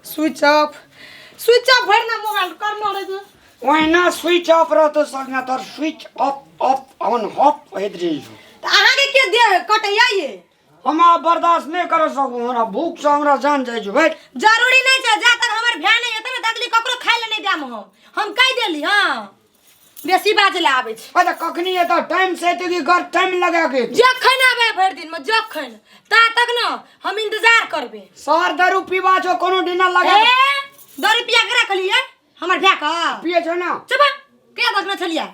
Switch off switch off भरि ना mobile कर ना रे तू ओहिना स्विच ऑफ रहतो संगा तोर switch off off on off होइत रही छौ तऽ अहाँके के दे कटैया ये हम आब बर्दाश्त नहि कर सकू हमरा भूख से हमरा जान जाइ छै भाई जरूरी नहीं छै जा तक हमर भ्या नहीं हेतै ना तकली ककरो खाय ले नहीं देम हम हम कह देली हाँ बेसी बाजे ले आबै छी अरे कखनी एत टाइम से एते की कर टाइम लगा के जखन आबै भरि दिन में जखन ता तक न हम इंतजार करबे शहर दारू पीवा छो कोनो डिनर लगा ए के दो रुपया के रखलिए हमर भ्या का पिए छो ना चुप के देखने छलिए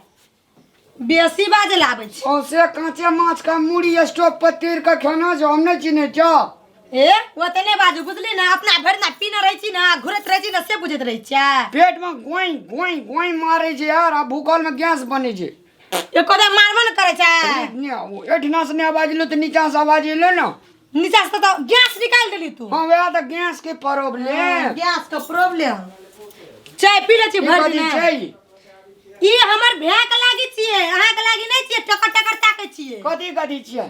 बेसी बाजे ले आबै छी औसे कांचे माछ का मूड़ी स्टोव पर तीर के खाना जो हमने चिन्हे छो ए ओतने बाजू बुझली ना अपना भरि ना पीना रहै छी ना घुरैत रहै छी ना से बुझैत रहै छियै पेट में गोई गोई गोई मारे छै यार आ भूखल में गैस बने छै एको दे मारबो ने करै छै ने ओ एठना से ने आवाज एलो तऽ नीचा से आवाज एलो ने नीचा से तो गैस निकाल देली तू हाँ वएह तऽ गैस के प्रॉब्लम गैस के प्रॉब्लम चाय पी ले छी भरि बजे दिन छै ई हमर भैया के लागी छियै अहाँ के लागी नहि छियै टकर टकर ताकै छियै कथी कथी छियै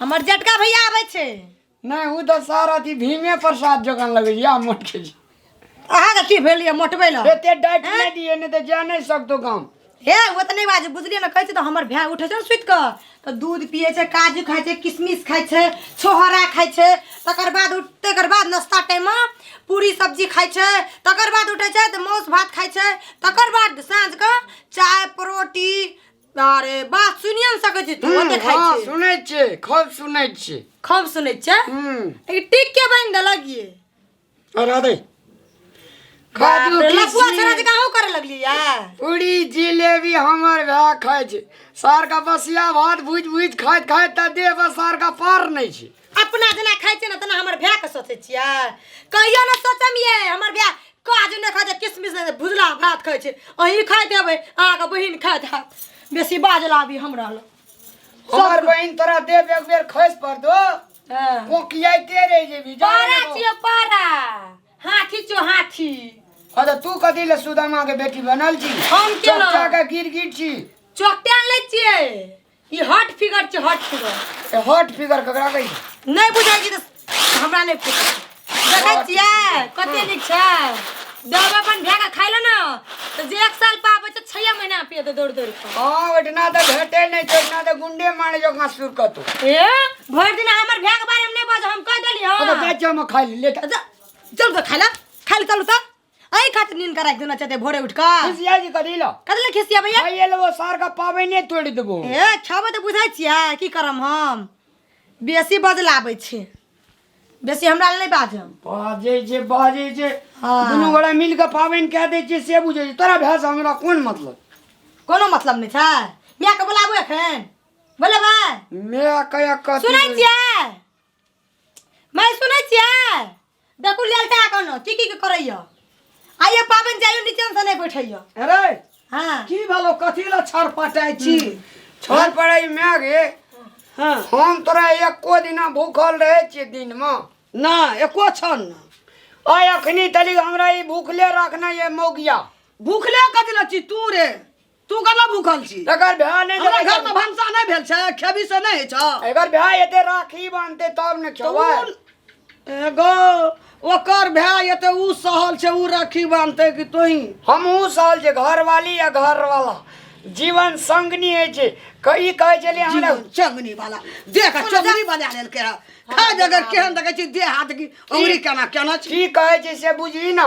हमर जटका भैया आबै छै नहि ओ तऽ सर अथी भीमे प्रसाद जकाँ लगैया मोटके जी अहाँके की भेल यऽ मोटबै लए एते डाइट नहि दिए नहि तऽ जा नहि सकतो गाम हे ओ तऽ नहि बाजू बुझलियै ने कहै छै तऽ हमर भाय उठै छै ने सुति कऽ तऽ दूध पियै छै काजू खाइ छै किशमिश खाइ छै छोहरा खाइ छै तकर बाद उठ तकर बाद नाश्ता टाइममे पूरी सब्जी खाइ छै तकर बाद उठै छै तऽ मासु भात खाइ छै तकर बाद साँझके चाय परोटी अरे बात सुनिए ने सकै छी तू हम्म, ओते खाइ हाँ, छी सुनै छियै खूब सुनै छियै खूब सुनै छै हम्म, ई टिक के बनि देलक ये और आ दे काजू बाप रे, लफुआ किशमिश। सरा जका हो करे लगली या पूरी जिलेबी हमर भए खाइ छै सार का बसिया भात भूजि भूजि खाइत खाइत तऽ देह पर सार का पार नहि छै अपना जेना खाइ छियै ने तेना हमर भाय के सोचै छियै कहियो ने सोचम ये हमर भाय काज नहि खाइ छै किसमिस नहि भुजला भात खाइ छै अहीं खाइत हेबै अहाँके बहिन खाइत हैत बेसी बाजल आबी हमरा लग हमर सब- बहिन तोरा देव एक बेर खसि पड़तो हँ। कोकियाइते रहि जेबी जाने पारा लगो। छियो पारा हाथी छियो हाथी हँ तऽ तू कथी ले सुदामा के बेटी बनल छी हम केना? चच्चा के गिर गिर छी चोकटा लै छियै ई हॉट फिगर छै हॉट फिगर ए हॉट फिगर ककरा कहै छै? नहि बुझै छी तऽ हमरा नहि पूछै देखै छियै कते नीक छै दब अपन भए कऽ खाइ ले ने तऽ जे एक साल पाबै छै छह महीना पिए दे दौड़ दौड़ कऽ हँ ओहिठिना तऽ भेटै नहि छै ओहिठिना तऽ गुंडे मारे जकाँ सुर कतौ ए भरि दिन हमर भए के बारे में नहि बाज हम कह देली अबे हँ जा जा हम खाइ ले ले जा। चल तऽ खाइ ले खाइ ले चल तऽ अही खातिर नींद कराइ देना चाहते भोरे उठ कऽ खुशिया जी कथी लो कथी लए खिसिया भैया भाई ये लोगो सार का पाबने तोड़ देबो ए छबे तऽ बुझै छियै की करम हम बेसी बदलाबै छै बेसी हमरा लए नहि बाजम बाजे जे बाजे जे हाँ। दुनू गोरा मिल के पाबनि कह दै छियै से बुझै छै तोरा भैंस हमरा कोन मतलब कोनो मतलब नहि छै मायके बोलाबू एखन बोलेबै माय कया कथी सुनै छियै मैं सुनै छियै देखू लेलटा कोनो की की करैया आइए पाबनि जाइयो नीचे से नहीं बैठैया अरे हाँ की भेलो कथी ला छर पटाइ छी छोड़ पड़े मैं गे हाँ हम तोरा एको दिना भूखल रहे छियै दिन में ना एको छन ना और अखनी तली हमरा ई भूखले रखना ये मौगिया भूखले कथी ला छी तू रे तू कना भूखल छी एकर ब्याह नहि हमरा घर में भंसा नहीं भेल छै खेबी से नहीं छ एकर ब्याह एते राखी बांधते तब ने खेबै एगो ओकर भाय ये तो उ सहल छे उ राखी बांधते कि तोही हम उ सहल छे घर वाली या घर वाला जीवन संगनी है छे कई कहे चले हमरा चंगनी वाला देख चंगनी बना लेल के खा जगह केहन देखे छी दे हाथ की उंगली केना केना छी की कहे छे से बुझी ना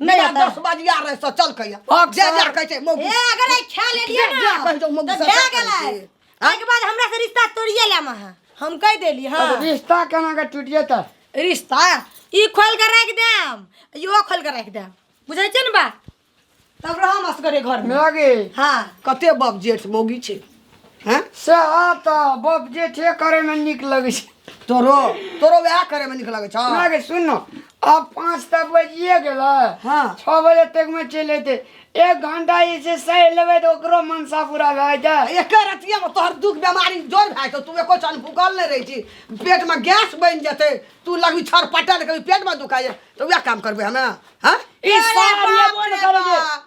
नहीं बिना आता। दस बजिया रहे सो चल कहिया भाग जे सर। जा कहै छै मौगी ए अगर आई खा ले लिया जा ना कहि दो मौगी तो सब खा क्या गेलै गेलै? के बाद हमरा से रिश्ता तोड़िए ले महा हम कह देली अब हां रिश्ता केना के टूटिए त रिश्ता ई खोल के रख देम इहो खोल के रख देम बुझै छै ने बा तब रहम असगरे घर में मेरा के हां कते बाप जेठ मौगी छै हैं सएह तऽ बाप जे छै करैमे नीक लगै छै तोरो तोरो वएह करे में निक लगे छौ ना गे सुन न आब पाँच तऽ बजिए गेलै हँ छओ बजे तकमे चलि अयतै एक घंटा जे छै सहि लेबै तऽ ओकरो मनसा पूरा भए जाए एके रतिये में तोहर दुख बीमारी जोर भए जेतौ तू एको चन भूखल नहि रहै छी पेट में गैस बनि जेतै तू लगबी छर पटल कभी पेट में दुखाइए तऽ वएह काम करबै हमे हँ ई अरे सार बाप येबो रे ने करे जे बाप।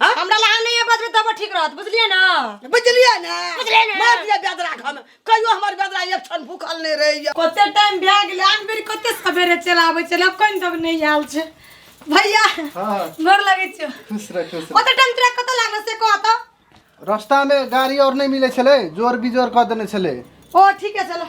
हाँ? हमरा लहान नहीं है बदले तब ठीक रहत बुझलिए ना बुझलिए ना बुझलिए ना मार दिया बेदरा घर में कहियो हमर बेदरा एक क्षण भूखल नहीं रही कते टाइम भए गेल आन बेर कते सवेरे चला आबै छला कोन तब नहीं आयल छै भैया हां गोर लगै छै खुश रह खुश रह ओते टाइम तोरा कत लागल से कह त रास्ता में गाड़ी और नहीं मिले छले जोर बिजोर क देने छले ओ ठीक है चलो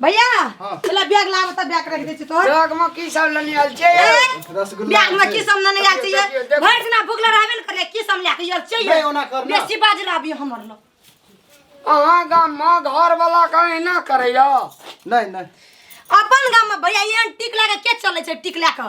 भैया हाँ। चला बैग लाबो त बैग रख दै छी तोहर बैग में की सब लेने आयल छे रसगुल्ला बैग में की सब न नहीं आल देखियो, चाहिए देखियो, देखियो। भर दिना भूख रहबे न करे की सब लेके आल चाहिए नहीं, ओना कर ना। बेसी बाज रहबी हमर लो अहाँ गाम में घर वाला कहीं ना करैया नहीं नहीं अपन गाम में भैया ये टिक लगा के चले छै टिक लगा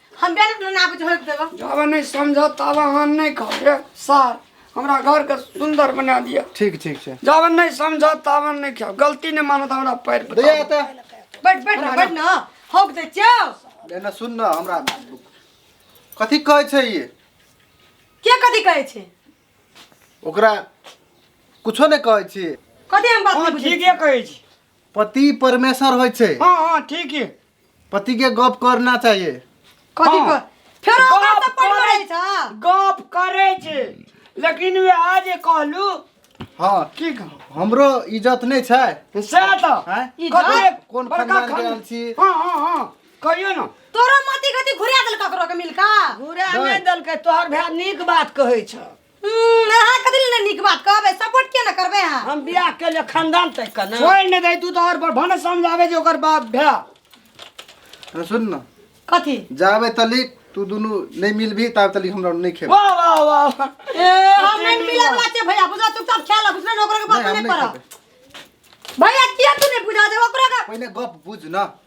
हम बेल अपना नाप जो होइब देबो जाबे नहीं समझ तब अहाँ नहीं कहबे सर हमरा घर के सुंदर बना दिया ठीक ठीक छै जाबे नहीं समझ तब नहीं खाओ गलती नहीं मानत हमरा पैर पर दैया एतऽ बैठ बैठ ना बैठ ना होक दे छौ एना सुन न हमरा कथी कहै छै ये के कथी कहै छै ओकरा कुछो नहि कहै छी कथी हम बात हाँ नहीं बुझै ठीक है कहे छी पति परमेश्वर होइ छै हाँ हाँ ठीक है पति के गप करना चाहिए कथी हाँ। पर फेर ओकरा गप से पढ़ करै पड़ै छ गप करे छे लेकिन वे आज कहलू हाँ की कह हमरो इज्जत नहीं छै से तो हैं? ई कथी जाय। कोन बड़का खानदान के खान- आयल छी? हाँ हाँ हाँ कहियो ना तोरो मति गति घुरा देल ककरो के मिलका घुरा नहीं दलके तोहर भाय नीक बात कहै छ हम्म, अहाँ कथी लए नहि नीक बात कहबै सपोर्ट किया नहि करबै अहाँ हम बियाह के लिए खानदान तय करना छोड़ नहीं दे तू तो और पर भने समझावे जे ओकर बाप भे अरे सुन ना कथी जाबे तली तू दुनू नहीं मिलबी ताब तली हमरा नहीं खेब वाह वाह वाह ए हम नहीं मिले वाला छै भैया बुझला चुपचाप खेल अब बुझला ओकरा के बात नहीं, हम नहीं नहीं करब भैया किया तू नहीं बुझा दे ओकरा के पहिले गप बुझ ना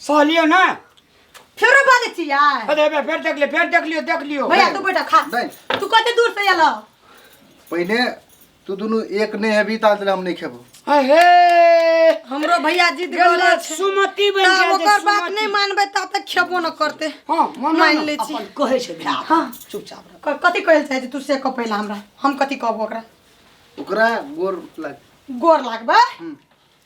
सहलियो ना फेरो बाजै छी यार अरे बे फेर देख ले फेर देख लियो देख लियो भैया तू बैठा खा नहीं तू कते दूर से एलो पहले तू दोनों एक ने है भी ताल हम नहीं खेबो अहे हमरो भैया जीत गेल गला छै सुमति बन तब जा ओकर बात नहीं मानबे तब तक खेबो न करते हां मन मान ले छी अपन कहे छै भैया हाँ। चुपचाप रह क- कथी कहै लए चाहै छी तू से कह पहिला हमरा हम कथी कहबो ओकरा ओकरा गोर लग गोर लागबे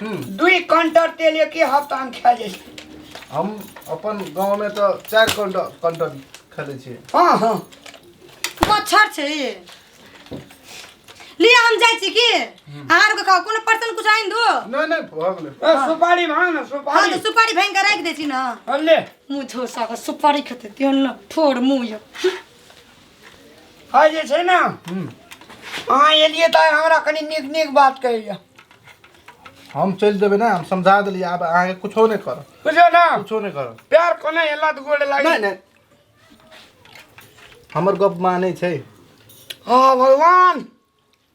हम्म, दुई कंटर तेल एक हफ्ता में खा जाइ छै हम अपन गाँव में तो चार कंटर कंटर खेले छियै हाँ हाँ मच्छर छै ई लिया हम जाइ छी की अहाँ आरके कहू कोनो पर्सन कुछ आनि दो नहीं नहीं भऽ गेलै ए, सुपारी भाग ना हँ सुपारी तऽ सुपारी भाङि कऽ राखि दै छी ने हँ, ले मुँह झोसा कऽ सुपारी खेतै त्यो न ठोर मुँह यौ है जे छै ने अहाँ एलियै तऽ हमरा कनि नीक नीक बात कहैया हम चलि देबै ने हम समझा देलियै आब अहाँके कुछो नहि करब बुझलियै ने कुछो नहि करब प्यार कोना एला तऽ गोड़ लागि नहि नहि हमर गप मानै छै हँ भगवान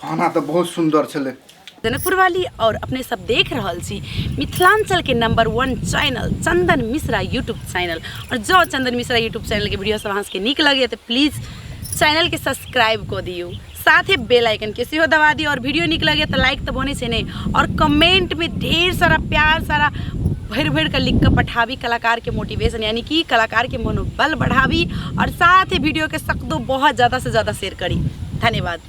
खाना तऽ बहुत सुन्दर छलै जनकपुर वाली और अपने सब देख रहल छी मिथिलांचल के number one channel Chandan Mishra YouTube channel और जो चंदन मिश्रा यूट्यूब चैनल के वीडियो सब अहाँ सबके नीक लगैए तऽ प्लीज चैनल के सब्सक्राइब कऽ दियौ साथे बेल आइकन के सेहो दबा दियौ और वीडियो नीक लगैए तऽ लाइक तऽ बनै छै नहि और कमेंट में ढेर सारा प्यार सारा भरि भरि कऽ लिख कऽ पठाबी कलाकारके मोटिवेशन यानी कि कलाकारके मनोबल बढ़ाबी आओर साथ ही वीडियोके सकतो बहुत जादा से जादा शेयर करी धन्यवाद